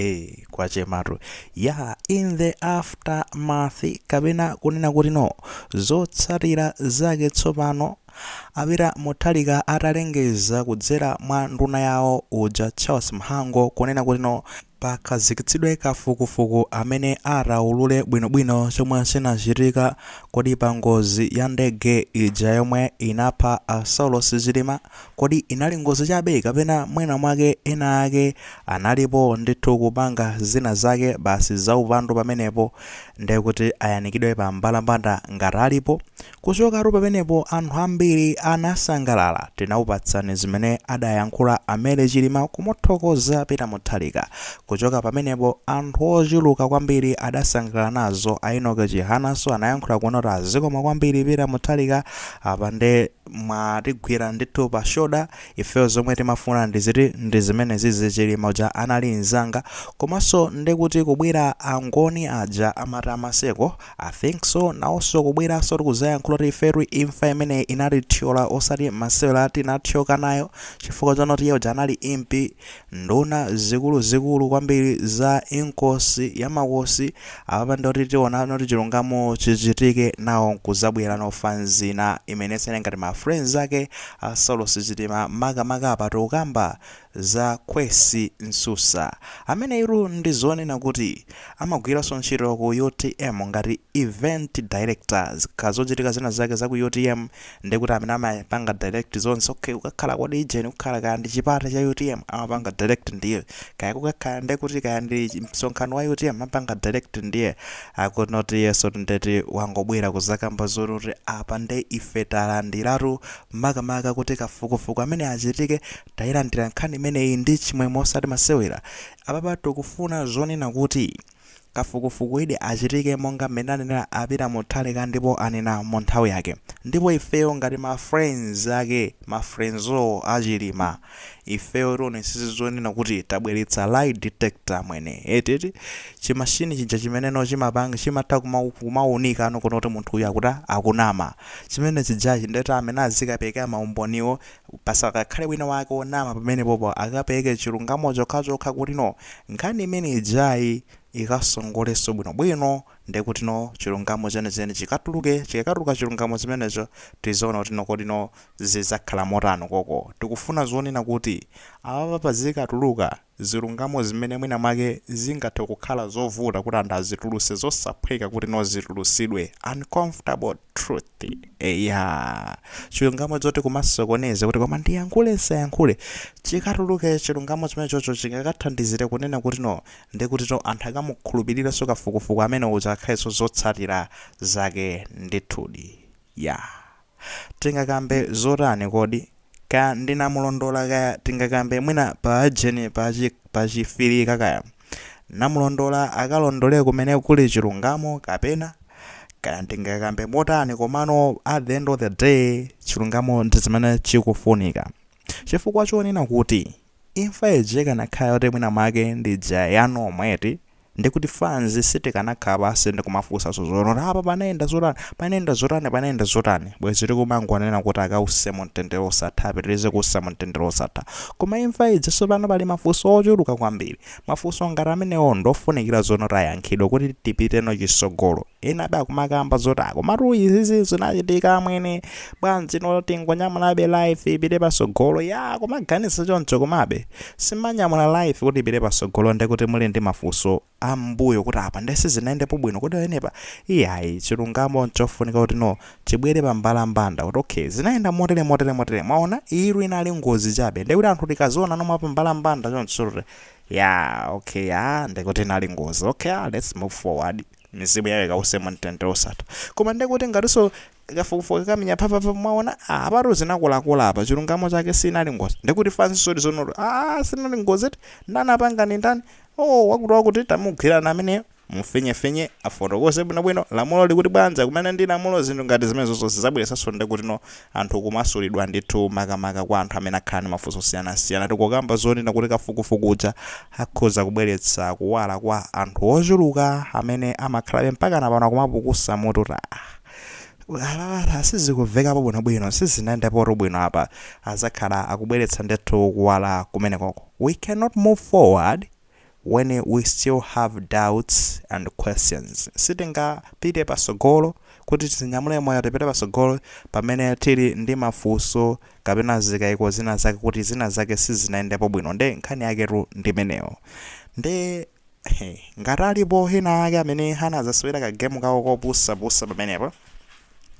Eee kwachematu yaa in the aftermath kapena kunena kuti no zotsatira zake tsopano a peter mutharika atalengeza kudzera mwa nduna yawo uja charles mhango kunena kuti no pakhazikitsidwe kafukufuku amene ataulule bwinobwino chomwe chinachitika kodi pangozi ya ndege ija yomwe inapha a saulos chilima Kodi inali ngozi chabe kapena mwinamwake ena ake analipo ndithu kupanga zina zake basi zaupandu pamenepo nde kuti ayanikidwe pa mbalambanda ngati alipo? Kuchokatu pamenepo anthu ambiri anasangalala tinakupatsani zimene adayankhula a Mary Chilima kumuthokoza Peter Mutharika. Kuchoka pamenepo anthu ochuluka kwambiri adasangalala nazo a Enock Chihananso anayankhula kunoti zikomo kwambiri Peter Mutharika apa nde mwatigwira ndithu pa shoda ifeyo zomwe timafuna ndiziti ndizimenezizi chilima uja anali nzanga komanso ndekuti kubwera angoni aja amati a maseko i think so nawonso kubweranso tikuzayankhula kuti ifetu imfa imeneyi inatithyola osati masewera tinathyoka nayo chifukwa chonoti iye uja anali impi Nduna zikuluzikulu kwambiri za Inkosi ya Makosi apapa nde kuti tiona noti chilungamo chichitike nawo nkuzabwera no fanz ina imene sine ngati ma friends ake a Saulos Chilima makamaka apa tikukamba za Khwesi Msusa ameneyitu ndizonena kuti amagwiranso ntchito ku utm ngati event director zikakhala zochitika zina zake za ku utm ndekuti amene amapanga direct zonse okay kukakhala kodi ijeni kukhala kaya ndi chipata cha utm amapanga direct ndiye kaya kukakhala ndekuti kaya ndi chi- msonkhano wa utm amapanga direct ndiye akunoti yes ndeti wangobwera kuzakamba zoti apa nde ife talandiratu makamaka kuti kafukufuku amene achitike tayilandira nkhani imeneyi ndi chimwemwe osati masewera apapa tikufuna zonena kuti Kafukufukuyudi achitike monga mmene anenera a Peter Mutharika ndipo anena mu nthawi yake. Ndipo ifeyo ngati ma friends ake, ma friends a Chilima, ifeyo tionesese zonena kuti tabweretsa lie detector amwene, eti eti, chi machine chija chimeneno chimapanga, chimatha kuma, kumaunikano kuona kuti munthu uyu akuti akunama, chimene chijachi, ndeti amene azikaperekera maumboniwo Pasakakhale wina wake onama pamenepopo akapereke chilungamo chokhachokha kutino nkhani imene ijayi ikasongolenso bwino bwino ndekutino chilungamo cheni cheni chikatuluke chikakatuluka chilungamo chimenecho tizaona kutino kodino zizakhala motani koko tikufuna zonena kuti apapa pazikatuluka zilungamo zimene mwina mwake zingathe kukhala zovuta kuti anthu azituluse zosaphweka kuti no zitulusidwe uncomfortable truth eya chilungamo choti kumasokoneza kuti koma ndiyankhule nsayankhule chikatuluke chilungamo chimenechocho chingakathandizire kunena kuti no ndi kuti no anthu akamukhulupiriranso kafukufuku amene uja akhalenso zotsatira zake ndithudi ya yeah. Tingakambe zotani kodi? Kaya ndi namulondola kaya tingakambe mwina pa ajeni pa chi pa chifirika kaya. Namulondola akalondole kumene kuli chilungamo kapena? Kaya tingakambe motani komano at the end of the day chilungamo ndi zimene chikufunika. Chifukwa chonena kuti Imfa ija ikanakhala yoti mwina mwake ndi ija ya normal eti, ndiye kuti fans sitikanakhala pansi ndi kumafunsanso zoti apa panayenda zotani, panayenda zotani, panayenda zotani, bwezi tikumangonena kuti akause mu mtendere osatha, apitirize kuusa mu mtendere osatha. Koma imfa ija tsopano pali mafunso ochuluka kwambiri. Mafunso ngati amenewo ndi ofunikira zoti ayankhidwe kuti tipiteno chitsogolo. ena abe akumakamba zoti a komatu izizi zinachitika amwene bwanji no tingonyamulabe life ipite pasogolo ya kumaganiza choncho komabe simanyamula life kuti ipite pasogolo ndekuti muli ndi mafunso ambuyo kuti apa nde zinaendepo bwino kuti enepa iyayi chilungamo nchofunika kuti no chibwere pambalambanda kuti okay zinaenda motere motere motere mwaona iru inali ngozi chabe ndekuti anthu tikaziona nomwe pambalambanda choncho ya okay ya ndekuti inali ngozi okay ah, let's move forward mizimu yawo ikause mu mtendere osatha koma ndekuti ngatinso kafukufuku kakamenya phapapa mwaona ah, apatu zinakolakola apa chilungamo chake sinali ngozi ndekuti fans zoti no ah, sinali ngozi eti ndani wapanga ndi ndani oh, wakuti wakuti tamugwirani ameneyo mufinyefinye afotokoze bwinobwino lamulo likuti bwanji kumene ndi lamulo zinthu ngati zimenezo zisazabweresonso ndekuti no anthu kumasulidwa ndithu makamaka kwa anthu amene akhala ndi mafunso osiyanasiyana. Tikukamba zonena kuti kafukufuku uja akhoza kubweretsa kuwala kwa anthu ochuluka amene amakhalabe mpakana pano akumapukusa mutu kuti aah apapa sizikumvekapo bwinobwino, sizinayendepotu bwino apa. Adzakhala akubweretsa ndithu kuwala kumenekoko. We cannot move forward. when we still have doubts and questions sitingapite pasogolo kuti tizinyamule moyo tipite pasogolo pamene tili ndi mafuso kapena zikaiko zina zake kuti zina zake sizinayendepo bwino nde nkhani yaketu ndi imeneyo nde he, ngati alipo ena ake amene anazasewera kagemu kawo kopusapusa pamenepo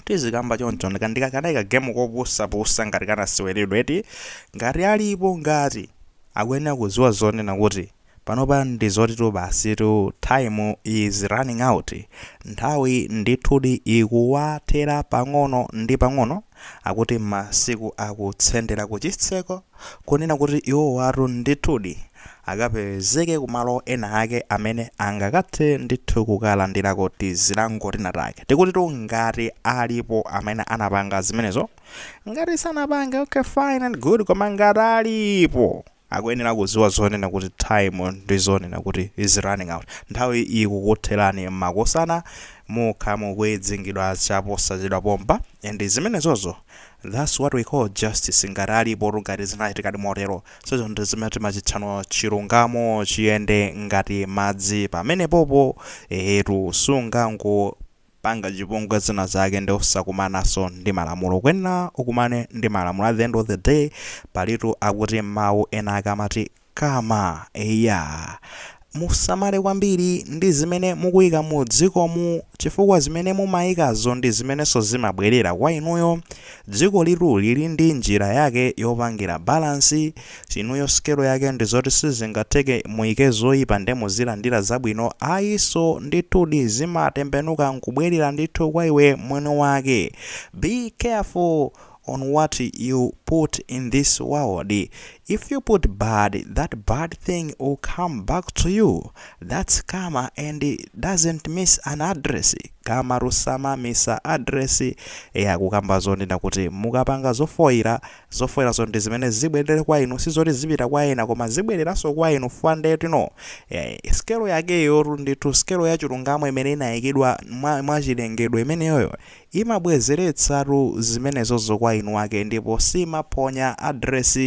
tizikamba choncho ndi kanali kagemu kopusapusa ngati kanaseweredwa eti ngati alipo ngati Akuyenera kuziwa zonena kuti panopa ndi zotitu basitu time is running out nthawi ndithudi ikuwathera pang'ono ndi pang'ono akuti masiku akutsendera kuchitseko kunena kuti iwowatu ndithudi akapezeke kumalo ena ake amene angakathe ndithu kukalandirako tizilango tinatake tikutitu ngati alipo amene anapanga zimenezo ngati sanapange okay fine and good koma ngati alipo akuyenera kuziwa zonena kuti time ndi zonena kuti is running out nthawi ikukutherani makosana mukha mukwidzingidwa chaposachedwa pompa and zimenezozo that's what we call justice ngati alipo ngati zinachitikadi motero so izo ndi zimene timachitcha kuno chilungamo chiyende ngati madzi pamenepopo ehetu sungango panga chipongwe zina zake nde osakumanaso ndi malamulo ukuyenera ukumane ndi malamulo at the end of the day palitu akuti mau ena ake amati karma eya musamale kwambiri ndi zimene mukuyika mu dzikomu chifukwa zimene mumayikazo ndi zimenenso zimabwerera kwa inuyo Dzikolitu lili ndi njira yake yopangira balance, inuyo sikelo yake ndi zoti sizingatheke muike zoipa nde muzilandira zabwino ayi so ndithudi zimatembenuka nkubwelera ndithu kwa iwe mwini wake. Be careful on what you put in this world, If you put bad that bad thing will come back to you that's karma and doesn't miss an address karmatu samamisa address eya kukamba zonena kuti mukapanga zofoira zofoirazo ndi zimene zibwerere kwa inu sizoti zipita kwa ena koma zibwereranso kwa inu fwa nde tinoti eh, skelo yakeyotu ndithu skelo ya chilungamo imene inayikidwa mwachilengedwe imeneyoyo Imabwezeretsatu zimenezozo kwa mwini wake ndipo siimaphonya address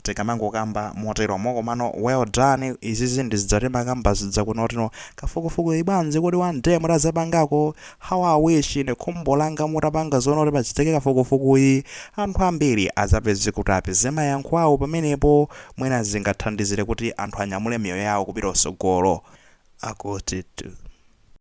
tikamangokamba moteromo komano well done izizi ndizija timakamba zija kunoti no kafukufukuyi bwanji kodi one day mutazapangako how i wish ine khumbo langa mutapanga zonoti pachitike kafukufukuyi anthu ambiri azapeze kuti apeze mayankho awo pamenepo mwina zingathandizire kuti anthu anyamule miyoyo yawo kupita kutsogolo akutitu.